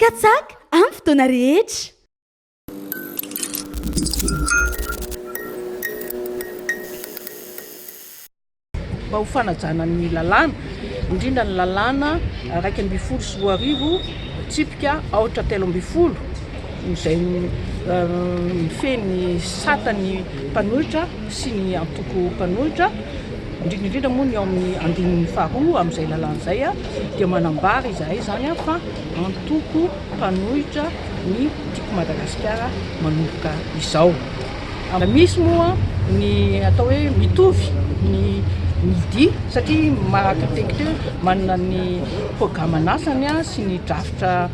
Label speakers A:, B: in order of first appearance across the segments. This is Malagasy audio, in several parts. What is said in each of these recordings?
A: Katsaka amin'ny fotoana rehetra.
B: Mba ho fanajana ny lalàna, indrindra ny lalàna iraika ambin'ny folo sy roa arivo tsipika aotra telo ambin'ny folo izay mifehy ny sata ny mpanohitra sy ny antoko mpanohitra, indrindra indrindra moa ny ao amin'ny andininy faharoa amin'izay lalàna izay dia manambara izahay izany fa antoko mpanohitra ny Tiako Madagasikara manomboka izao. Misy moa ny atao hoe mitovy ny midi satria marakitekitea manana ny programan'asany sy ny drafitra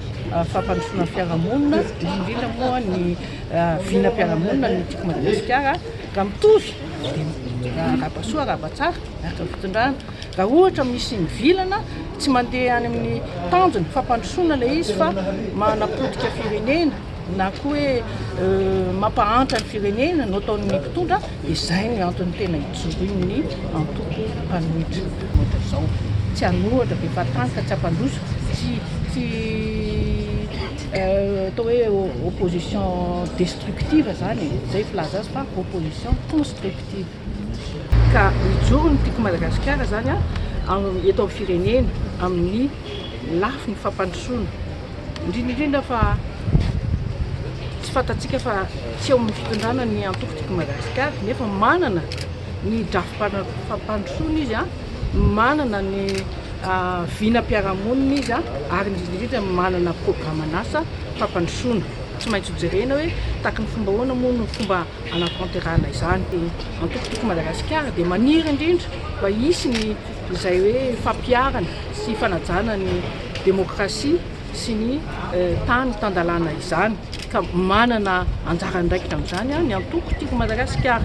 B: fampandrosoana ny fiarahamonina, indrindra indrindra moa ny vinam-piarahamonina ny Tiako Madagasikara raha mitovy. dia arahaba soa, arahaba tsara araka ny fitondrana. Raha ohatra misy mivilana, tsy mandeha any amin'ny tanjona fampandrosoana ilay izy fa manapotika firenena na koa hoe euh, mampahantra ny firenena no ataon'ny mpitondra, dia izay ny antony tena ijoroan'ny antoko mpanohitra ohatra izao. Tsy hanohatra be fatanka, tsy hampandroso, tsy tsy Art. Atao hoe opposition destructive izany e, izay filaza azy fa opposition constructive. Ka mijoro ny Tiako Madagasikara izany an, eto amin'ny firenena amin'ny lafiny fampandrosoana, indrindra indrindra fa tsy fantatsika fa tsy eo amin'ny fitondrana ny antoko Tiako Madagasikara nefa manana ny drafi-pampandrosoana izy an. manana ny vinam-piarahamonina izy ary indrindra indrindra manana programan'asa fampandrosoana. Tsy maintsy hojerena hoe tahaky ny fomba ahoana moa no fomba hanatanterahana izany. Dia antokotoko Madagasikara dia maniry indrindra mba hisy ny izay hoe fampiharana sy fanajana ny demokrasia. sy ny tany tan-dalàna izany ka manana anjara andraikitra amin'izany ny antoko Tiako Madagasikara.